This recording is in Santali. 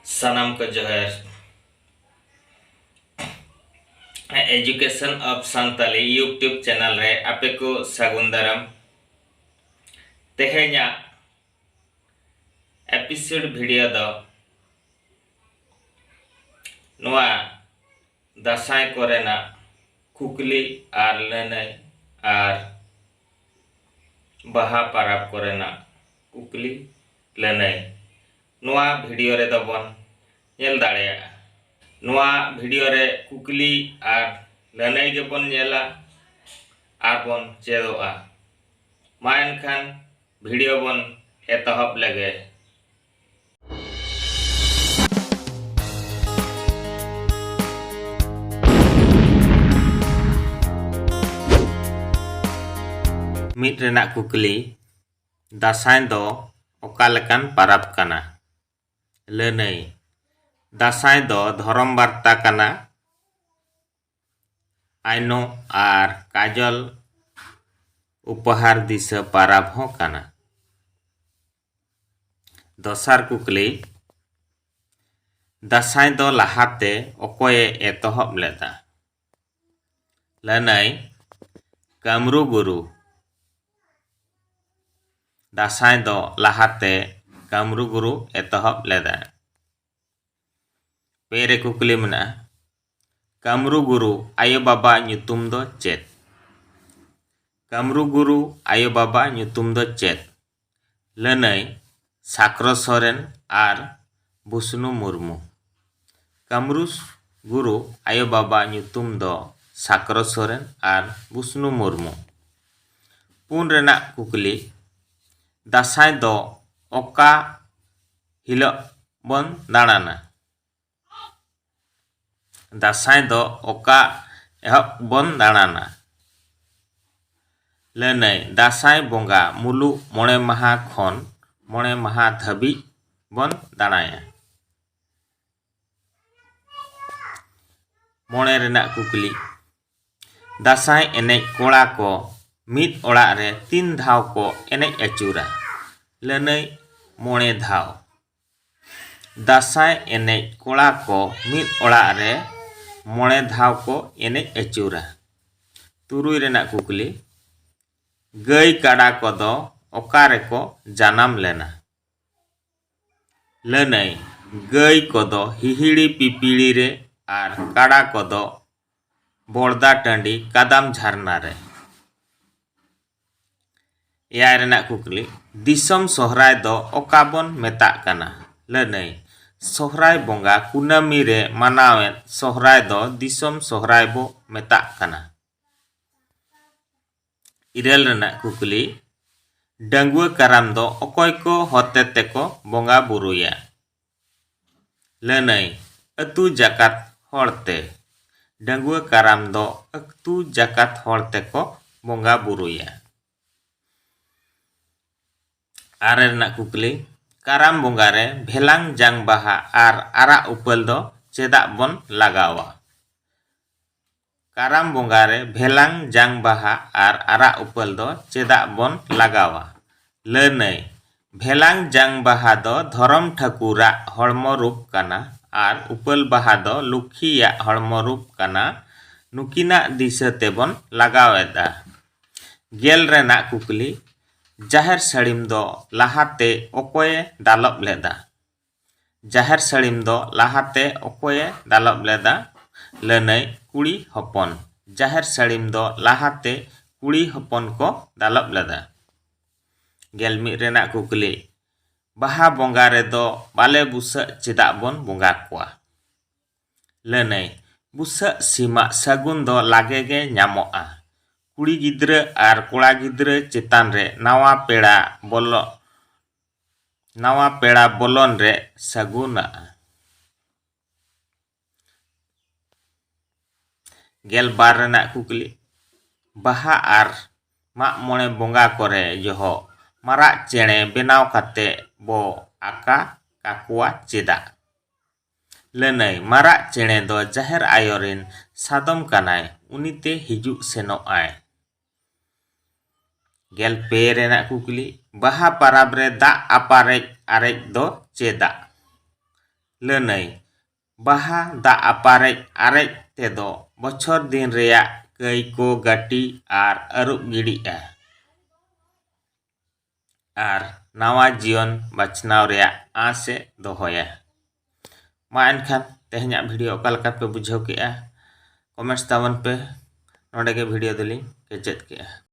ᱥᱟᱱᱟᱢ ᱠᱚ ᱡᱚᱦᱟᱨ education of Santali YouTube channel ᱨᱮ ᱟᱯᱮ ᱠᱚ ᱥᱟᱹᱜᱩᱱ ᱫᱟᱨᱟᱢ ᱛᱮᱦᱮᱧᱟᱜ ᱮᱯᱤᱥᱳᱰ ᱵᱷᱤᱰᱤᱭᱳ ᱫᱚ ᱱᱚᱣᱟ ᱫᱟᱥᱟᱭ ᱠᱚᱨᱮᱱᱟᱜ ᱠᱩᱠᱞᱤ ᱟᱨ ᱞᱟᱹᱱᱟᱹᱭ ᱟᱨ ᱵᱟᱦᱟ ᱯᱟᱨᱟᱵᱽ ᱠᱚᱨᱮᱱᱟᱜ ᱠᱩᱠᱞᱤ ᱞᱟᱹᱱᱟᱹᱭ ᱱᱚᱣᱟ ᱵᱷᱤᱰᱤᱭᱳ ᱨᱮᱫᱚ ᱵᱚᱱ ᱧᱮᱞ ᱫᱟᱲᱮᱭᱟᱜᱼᱟ᱾ ᱱᱚᱣᱟ ᱵᱷᱤᱰᱤᱭᱳ ᱨᱮ ᱠᱩᱠᱞᱤ ᱟᱨ ᱞᱟᱹᱱᱟᱹᱭ ᱜᱮ ᱵᱚᱱ ᱧᱮᱞᱟ ᱟᱨ ᱵᱚᱱ ᱪᱮᱫᱚᱜᱼᱟ᱾ ᱢᱟ ᱮᱱᱠᱷᱟᱱ ᱵᱷᱤᱰᱤᱭᱳ ᱵᱚᱱ ᱮᱛᱚᱦᱚᱵ ᱞᱮᱜᱮ᱾ ᱢᱤᱫ ᱨᱮᱱᱟᱜ ᱠᱩᱠᱞᱤ ᱫᱟᱥᱟᱭ ᱫᱚ ᱚᱠᱟ ᱞᱮᱠᱟᱱ ᱯᱟᱨᱟᱵᱽ ᱠᱟᱱᱟ ᱞᱟᱹᱱᱟᱹᱭ ᱫᱟᱥᱟᱭ ᱫᱚ ᱫᱷᱚᱨᱚᱢ ᱵᱟᱨᱛᱟ ᱠᱟᱱᱟ ᱟᱭᱱᱚ ᱟᱨ ᱠᱟᱡᱚᱞ ᱩᱯᱚᱦᱟᱨ ᱫᱤᱥᱟᱹ ᱯᱟᱨᱟᱵᱽ ᱦᱚᱸ ᱠᱟᱱᱟ ᱫᱚᱥᱟᱨ ᱠᱩᱠᱞᱤ, ᱫᱟᱸᱥᱟᱭ ᱫᱚ ᱞᱟᱦᱟᱛᱮ ᱚᱠᱚᱭᱮ ᱮᱛᱚᱦᱚᱵ ᱞᱮᱫᱟ? ᱞᱟᱹᱱᱟᱹᱭ, ᱠᱟᱹᱢᱨᱩ ᱜᱩᱨᱩ᱾ ᱫᱟᱸᱥᱟᱭ ᱫᱚ ᱞᱟᱦᱟᱛᱮ ᱠᱟᱹᱢᱨᱩ ᱜᱩᱨᱩ ᱮᱛᱚᱦᱚᱵ ᱞᱮᱫᱟ᱾ ᱯᱮ ᱨᱮ ᱠᱩᱠᱞᱤ ᱢᱮᱱᱟᱜᱼᱟ ᱠᱟᱢᱨᱩ ᱜᱩᱨᱩ ᱟᱭᱳ ᱵᱟᱵᱟ ᱧᱩᱛᱩᱢ ᱫᱚ ᱪᱮᱫ ᱠᱟᱢᱨᱩ ᱜᱩᱨᱩ ᱟᱭᱳ ᱵᱟᱵᱟ ᱧᱩᱛᱩᱢ ᱫᱚ ᱪᱮᱫ ᱞᱟᱹᱱᱟᱹᱭ ᱥᱟᱠᱨᱚ ᱥᱚᱨᱮᱱ ᱟᱨ ᱵᱩᱥᱱᱩ ᱢᱩᱨᱢᱩ ᱠᱟᱢᱨᱩ ᱜᱩᱨᱩ ᱟᱭᱳ ᱵᱟᱵᱟ ᱧᱩᱛᱩᱢ ᱫᱚ ᱥᱟᱠᱨᱚ ᱥᱚᱨᱮᱱ ᱟᱨ ᱵᱩᱥᱱᱩ ᱢᱩᱨᱢᱩ ᱯᱩᱱ ᱨᱮᱱᱟᱜ ᱠᱩᱠᱞᱤ ᱫᱟᱸᱥᱟᱭ ᱫᱚ ᱚᱠᱟ ᱦᱤᱞᱚᱜ ᱵᱚᱱ ᱫᱟᱬᱟᱱᱟ᱾ ᱫᱟᱸᱥᱟᱭ ᱫᱚ ᱚᱠᱟ ᱮᱦᱚᱵ ᱵᱚᱱ ᱫᱟᱬᱟᱱᱟ? ᱞᱟᱹᱱᱟᱹᱭ, ᱫᱟᱸᱥᱟᱭ ᱵᱚᱸᱜᱟ ᱢᱩᱞᱩᱜ ᱢᱚᱬᱮ ᱢᱟᱦᱟᱸ ᱠᱷᱚᱱ ᱢᱚᱬᱮ ᱢᱟᱦᱟᱸ ᱫᱷᱟᱹᱵᱤᱡ ᱵᱚᱱ ᱫᱟᱬᱟᱭᱟ᱾ ᱢᱚᱬᱮ ᱨᱮᱱᱟᱜ ᱠᱩᱠᱞᱤ ᱫᱟᱸᱥᱟᱭ ᱮᱱᱮᱡ ᱠᱚᱲᱟ ᱠᱚ ᱢᱤᱫ ᱚᱲᱟᱜ ᱨᱮ ᱛᱤᱱ ᱫᱷᱟᱣ ᱠᱚ ᱮᱱᱮᱡ ᱟᱹᱪᱩᱨᱟ ᱞᱟᱹᱱᱟᱹᱭ ᱢᱚᱬᱮ ᱫᱷᱟᱣ ᱫᱟᱸᱥᱟᱭ ᱮᱱᱮᱡ ᱠᱚᱲᱟ ᱠᱚ ᱢᱤᱫ ᱚᱲᱟᱜ ᱨᱮ ᱢᱚᱬᱮ ᱫᱷᱟᱣ ᱠᱚ ᱮᱱᱮᱡ ᱟᱹᱪᱩᱨᱟ ᱛᱩᱨᱩᱭ ᱨᱮᱱᱟᱜ ᱠᱩᱠᱞᱤ ᱜᱟᱹᱭ ᱠᱟᱰᱟ ᱠᱚᱫᱚ ᱚᱠᱟ ᱨᱮᱠᱚ ᱡᱟᱱᱟᱢ ᱞᱮᱱᱟ ᱞᱟᱹᱱᱟᱹᱭ, ᱜᱟᱹᱭ ᱠᱚᱫᱚ ᱦᱤᱦᱤᱲᱤ ᱯᱤᱯᱤᱲᱤ ᱨᱮ ᱟᱨ ᱠᱟᱰᱟ ᱠᱚᱫᱚ ᱵᱚᱲᱫᱟ ᱴᱟᱺᱰᱤ ᱠᱟᱫᱟᱢ ᱡᱷᱟᱨᱱᱟ ᱨᱮ᱾ ᱮᱭᱟᱭ ᱨᱮᱱᱟᱜ ᱠᱩᱠᱞᱤ, ᱫᱤᱥᱚᱢ ᱥᱚᱦᱨᱟᱭ ᱫᱚ ᱚᱠᱟ ᱵᱚᱱ ᱢᱮᱛᱟᱜ ᱠᱟᱱᱟ? ᱞᱟᱹᱱᱟᱹᱭ, ᱥᱚᱦᱨᱟᱭ ᱵᱚᱸᱜᱟ ᱠᱩᱱᱟᱹᱢᱤ ᱨᱮ ᱢᱟᱱᱟᱣᱮᱫ ᱥᱚᱦᱨᱟᱭ ᱫᱚ ᱫᱤᱥᱚᱢ ᱥᱚᱦᱨᱟᱭ ᱵᱚ ᱢᱮᱛᱟᱜ ᱠᱟᱱᱟ᱾ ᱤᱨᱟᱹᱞ ᱨᱮᱱᱟᱜ ᱠᱩᱠᱞᱤ ᱰᱟᱺᱜᱩᱣᱟᱹ ᱠᱟᱨᱟᱢ ᱫᱚ ᱚᱠᱚᱭ ᱠᱚ ᱦᱚᱛᱮ ᱛᱮᱠᱚ ᱵᱚᱸᱜᱟ ᱵᱩᱨᱩᱭᱟ? ᱞᱟᱹᱱᱟᱹᱭ ᱟᱹᱛᱩ ᱡᱟᱠᱟᱛ ᱦᱚᱲ ᱛᱮ᱾ ᱰᱟᱺᱜᱩᱣᱟᱹ ᱠᱟᱨᱟᱢ ᱫᱚ ᱟᱹᱛᱩ ᱡᱟᱠᱟᱛ ᱦᱚᱲ ᱛᱮᱠᱚ ᱵᱚᱸᱜᱟ ᱵᱩᱨᱩᱭᱟ᱾ ᱟᱨᱮ ᱨᱮᱱᱟᱜ ᱠᱩᱠᱞᱤ ᱠᱟᱨᱟᱢ ᱵᱚᱸᱜᱟ ᱨᱮ ᱵᱷᱮᱞᱟᱝ ᱡᱟᱝ ᱵᱟᱦᱟ ᱟᱨ ᱟᱨᱟᱜ ᱩᱯᱟᱹᱞ ᱫᱚ ᱪᱮᱫᱟᱜ ᱵᱚᱱ ᱞᱟᱜᱟᱣᱟ? ᱠᱟᱨᱟᱢ ᱵᱚᱸᱜᱟ ᱨᱮ ᱵᱷᱮᱞᱟᱝ ᱡᱟᱝ ᱵᱟᱦᱟ ᱟᱨ ᱟᱨᱟᱜ ᱩᱯᱟᱹᱞ ᱫᱚ ᱪᱮᱫᱟᱜ ᱵᱚᱱ ᱞᱟᱜᱟᱣᱟ? ᱞᱟᱹᱱᱟᱹᱭ, ᱵᱷᱮᱞᱟᱝ ᱡᱟᱝ ᱵᱟᱦᱟ ᱫᱚ ᱫᱷᱚᱨᱚᱢ ᱴᱷᱟᱹᱠᱩᱨ ᱟᱜ ᱦᱚᱲᱢᱚ ᱨᱩᱯ ᱠᱟᱱᱟ ᱟᱨ ᱩᱯᱟᱹᱞ ᱵᱟᱦᱟ ᱫᱚ ᱞᱩᱠᱷᱤ ᱭᱟᱜ ᱦᱚᱲᱢᱚ ᱨᱩᱯ ᱠᱟᱱᱟ᱾ ᱱᱩᱠᱤᱱᱟᱜ ᱫᱤᱥᱟᱹ ᱛᱮ ᱵᱚᱱ ᱞᱟᱜᱟᱣ ᱮᱫᱼᱟ᱾ ᱜᱮᱞ ᱨᱮᱱᱟᱜ ᱠᱩᱠᱞᱤ, ᱡᱟᱦᱮᱨ ᱥᱟᱹᱲᱤᱢ ᱫᱚ ᱞᱟᱦᱟ ᱛᱮ ᱚᱠᱚᱭ ᱮ ᱫᱟᱞᱚᱵ ᱞᱮᱫᱼᱟ? ᱡᱟᱦᱮᱨ ᱥᱟᱹᱲᱤᱢ ᱫᱚ ᱞᱟᱦᱟᱛᱮ ᱚᱠᱚᱭᱮ ᱫᱟᱞᱚᱵ ᱞᱮᱫᱟ? ᱞᱟᱹᱱᱟᱹᱭ, ᱠᱩᱲᱤ ᱦᱚᱯᱚᱱ᱾ ᱡᱟᱦᱮᱨ ᱥᱟᱹᱲᱤᱢ ᱫᱚ ᱞᱟᱦᱟᱛᱮ ᱠᱩᱲᱤ ᱦᱚᱯᱚᱱ ᱠᱚ ᱫᱟᱞᱚᱵ ᱞᱮᱫᱟ᱾ ᱜᱮᱞ ᱢᱤᱫ ᱨᱮᱱᱟᱜ ᱠᱩᱠᱞᱤ, ᱵᱟᱦᱟ ᱵᱚᱸᱜᱟ ᱨᱮᱫᱚ ᱵᱟᱞᱮ ᱵᱩᱥᱟᱹᱜ ᱪᱮᱫᱟᱜ ᱵᱚᱱ ᱵᱚᱸᱜᱟ ᱠᱚᱣᱟ? ᱞᱟᱹᱱᱟᱹᱭ, ᱵᱩᱥᱟᱹᱜ ᱥᱤᱢᱟᱜ ᱥᱟᱹᱜᱩᱱ ᱫᱚ ᱞᱟᱜᱮ ᱜᱮ ᱧᱟᱢᱚᱜᱼᱟ᱾ ᱠᱩᱲᱤ ᱜᱤᱫᱽᱨᱟᱹ ᱟᱨ ᱠᱚᱲᱟ ᱜᱤᱫᱽᱨᱟᱹ ᱪᱮᱛᱟᱱ ᱨᱮ ᱱᱟᱣᱟ ᱯᱮᱲᱟ ᱵᱚᱞᱚᱜ ᱱᱟᱣᱟ ᱯᱮᱲᱟ ᱵᱚᱞᱚᱱ ᱨᱮ ᱥᱟᱹᱜᱩᱱᱟᱜᱼᱟ᱾ ᱜᱮᱞ ᱵᱟᱨ ᱨᱮᱱᱟᱜ ᱠᱩᱠᱞᱤ ᱵᱟᱦᱟ ᱟᱨ ᱢᱟᱜ ᱢᱚᱬᱮ ᱵᱚᱸᱜᱟ ᱠᱚᱨᱮ ᱡᱚᱦᱚᱜ ᱢᱟᱨᱟᱜ ᱪᱮᱬᱮ ᱵᱮᱱᱟᱣ ᱠᱟᱛᱮ ᱵᱚ ᱟᱠᱟ ᱠᱟᱠᱚᱣᱟ ᱪᱮᱫᱟᱜ? ᱞᱟᱹᱱᱟᱹᱭ ᱢᱟᱨᱟᱜ ᱪᱮᱬᱮ ᱫᱚ ᱡᱟᱦᱮᱨ ᱟᱭᱳ ᱨᱤᱱ ᱥᱟᱫᱚᱢ ᱠᱟᱱᱟᱭ ᱩᱱᱤ ᱛᱮ ᱦᱤᱡᱩᱜ ᱥᱮᱱᱚᱜ ᱟᱭ᱾ ᱜᱮᱞ ᱯᱮ ᱨᱮᱱᱟᱜ ᱠᱩᱠᱞᱤ ᱵᱟᱦᱟ ᱯᱟᱨᱟᱵᱽ ᱨᱮ ᱫᱟᱜ ᱟᱯᱟᱨᱮᱡ ᱟᱨᱮᱡ ᱫᱚ ᱪᱮᱫᱟᱜ ᱞᱟᱹᱱᱟᱹᱭ ᱵᱟᱦᱟ ᱫᱟᱜ ᱟᱯᱟᱨᱮᱡ ᱟᱨᱮᱡ ᱛᱮᱫᱚ ᱵᱚᱪᱷᱚᱨ ᱫᱤᱱ ᱨᱮᱭᱟᱜ ᱠᱟᱹᱭ ᱠᱚ ᱜᱟᱹᱴᱤ ᱟᱨ ᱟᱹᱨᱩᱵ ᱜᱤᱰᱤᱜᱼᱟ ᱟᱨ ᱱᱟᱣᱟ ᱡᱤᱭᱚᱱ ᱵᱟᱪᱷᱱᱟᱣ ᱨᱮᱭᱟᱜ ᱟᱸᱥ ᱮ ᱫᱚᱦᱚᱭᱟ᱾ ᱢᱟ ᱮᱱᱠᱷᱟᱱ ᱛᱮᱦᱮᱧᱟᱜ ᱵᱷᱤᱰᱤᱭᱳ ᱚᱠᱟ ᱞᱮᱠᱟ ᱯᱮ ᱵᱩᱡᱷᱟᱹᱣ ᱠᱮᱫᱼᱟ ᱠᱚᱢᱮᱱᱴᱥ ᱛᱟᱵᱚᱱ ᱯᱮ᱾ ᱱᱚᱰᱮ ᱜᱮ ᱵᱷᱤᱰᱤᱭᱳ ᱫᱚᱞᱤᱧ ᱠᱮᱪᱮᱫ ᱠᱮᱫᱼᱟ᱾